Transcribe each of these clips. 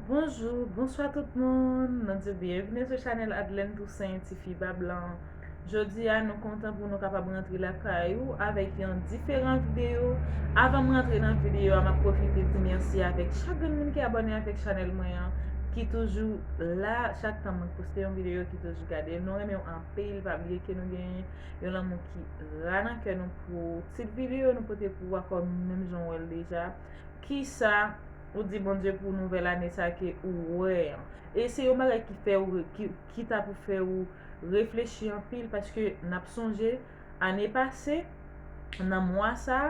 Bonjou, bonswa tout moun, nou di byenvni sou chanèl Adlèn Tousen ti fi pa blan Jodi a nou kontan pou nou kapab rantre lakay ou avèk yon diferan videyo Avan m rantre nan videyo a m ap pwofite di mèsi avèk chak grenn moun ki abòne avèk chanèl mwen an Ki toujou la chak tan mwen poste yon videyo ki toujou gade l Nou renmen w anpil pa bliye ke nou gen yon lanmou ki ra nan kè nou pou ti videyo nou pote pou ou akò menm jan w wè l deja Kisa ou di Bondye pou nouvèl ane sa ke ou wè an? E se yon bagay ki fè ou ki ta pou fè ou reflechi anpil paske nap sonje ane pase nan mwa sa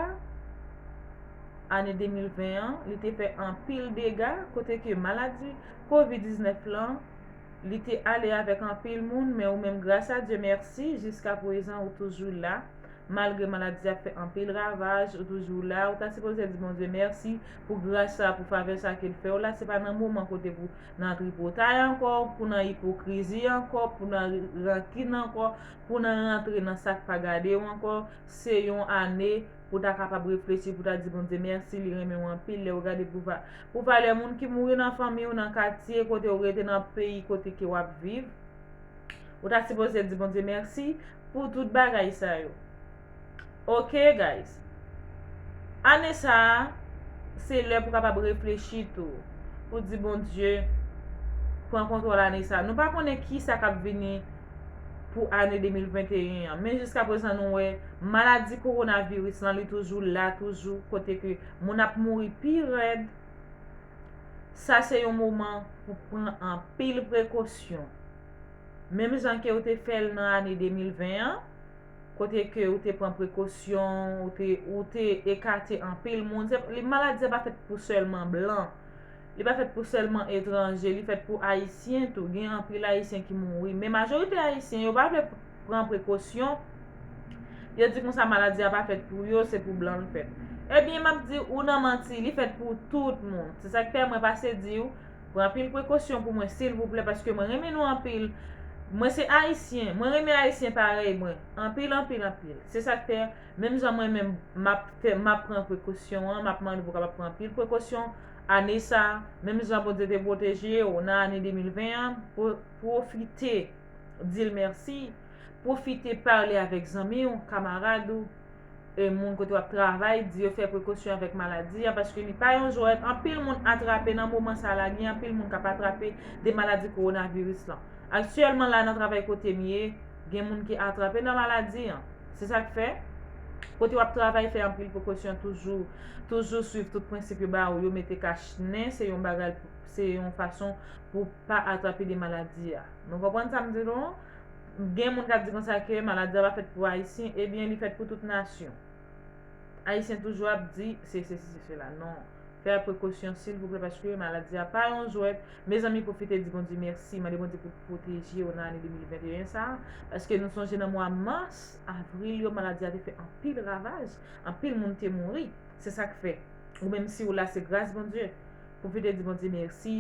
ane 2020 an li te fè anpil dega kote ke maladi covid 19 lan li te ale avèk anpil moun men ou menm gras a Dye mèsi jiska pwezan ou toujou la Malgre maladi a fè anpil ravaj ou toujou la ou ta sipoze di Bondye mèsi pou gras sa pou favè sa kel fèw la se pa nan moman kote pou nan tripotay ankò pou nan ipokrizi ankò pou nan rankin ankò pou nan rantre nan sak pa gadew ankò se yon ane pou ta kapab reflechi pou ta di Bondye mèsi li renmenw anpil lèw gade pou valè moun ki mouri nan fanmiw nan katye kotew rete nan peyi kote ke wap viv ou ta sipoze di Bondye mèsi Pou tout bagay sa yo. Ok guys. Ane sa a se lè pou kapab reflechi tou. Pou di Bondye pran kontwòl ane sa a. Nou pa konnen ki sa kap vini pou ane 2021 an. Men jiska prezan nou wè maladi kowonaviris lan li toujou la toujou kote ke moun ap mouri pi rèd. Sa se yon moman pou pran anpil prekosyon. Menm jan ke ou te fè l nan ane 2020 an, kote ke ou te pran prekosyon, ou te ekate anpil moun. Maladi sa pa fèt pou sèlman blan, li pa fèt pou sèlman etranje, li fèt pou Ayisyen tou. Gen anpil Ayisyen ki mouri. Men majorite Ayisyen yo pa vle. pran prekosyon, yo di konsa maladi a pa fèt pou yo, se pou blan l fèt. Ebyen, m ap di ou nan manti, li fèt pou tout moun. Se sa k fè mwen pase di ou, pran anpil prekosyon pou mwen silvouplè paske mwen renmen nou anpil. Mwen se Ayisyen, mwen renmen Ayisyen parèy mwen anpil anpil anpil. Se sa k fè, menm jan mwen menm m ap fè, m ap pran prekosyon an, m ap mande pou w kapab pran anpil prekosyon ane sa a, menm jan Bondye te pwoteje ou nan ane 2020 an, pwofite. di l mèsi, pwofite pale avèk zanmi w, kamarad ou, moun kote w ap travay, di yo fè prekosyon avèk maladi a paske li pa yon jwèt, anpil moun atrape nan moman sa la, gen anpil moun k ap atrape de maladi kowonaviris lan. Aktyèlman la nan travay kote m ye, gen moun ki atrape nan maladi an. Se sa k fè, kote w ap travay fè anpil prekosyon toujou, toujou swiv tout prensip yo ba ou yo, mete kach nen se yon bagay, se yon fason pou pa atrape de maladi a. Nou konprann sa m di nou an? Gen moun k ap di konsa ke maladi a pa fèt pou Ayisyen, ebyen li fèt pou tout nasyon. Ayisyen toujou ap di se sesi se sela. Non, fè prekosyon silvouplè paske maladi a pa yon jwèt. Mezanmi pwofite di Bondye mèsi, mande Bondye pou pwoteje ou nan ane 2021 sa a. Paske nou sonje nan mwa mas, avril yo maladi a te fè anpil ravaj, anpil moun te mouri. Se sa k fè, ou menm si w la se gras Bondye. Pwofite di Bondye mèsi,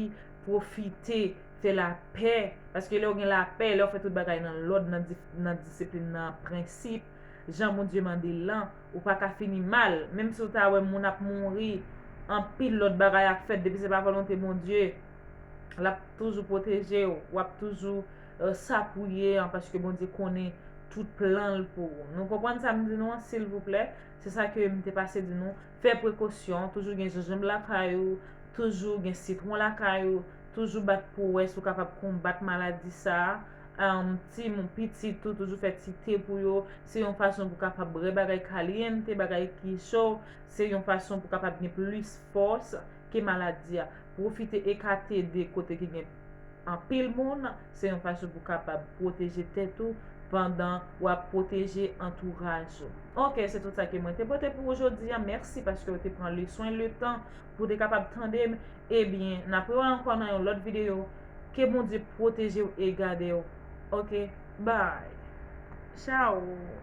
pwofite. Se lapè, paske lè ou gen lapè, lè ou fè tout bagay nan lòd, nan disiplin, nan prensip, jan Bondye mande l lan, ou pa ka fini mal. Menm si ou ta wè moun ap mouri, anpil lòt bagay ap fèt, depi se pa volonte Bondye, l ap toujou pwoteje ou, w ap toujou sa pou ye an, paske Bondye konnen tout plan l pou ou. Nou konprann sa m di nou an silvouplè? Se sa ke m te pase di nou. Fè prekosyon, toujou gen jenjanb lakay ou, toujou gen sitwon lakay ou, toujou bat pou wè si w kapab konbat maladi sa a. Timoun, pitit ou, toujou fè ti te pou yo. Se yon fason pou kapab bre bagay kalyente, bagay ki cho. Se yon fason pou kapab gen plis fòs ke maladi a. Pwofite ekate de kote ki gen. anpil moun, se yon fason pou kapab pwoteje tèt ou pandan wap pwoteje antouraj ou. Ok se tout sa ke mwen te pote pou ou jodi an mèsi paske ou te pran le swen le tan pou ou te kapab tande m ebyen nap wè ankò nan yon lòt videyo ke Bondye pwotejew e gadew ok bye chaoo.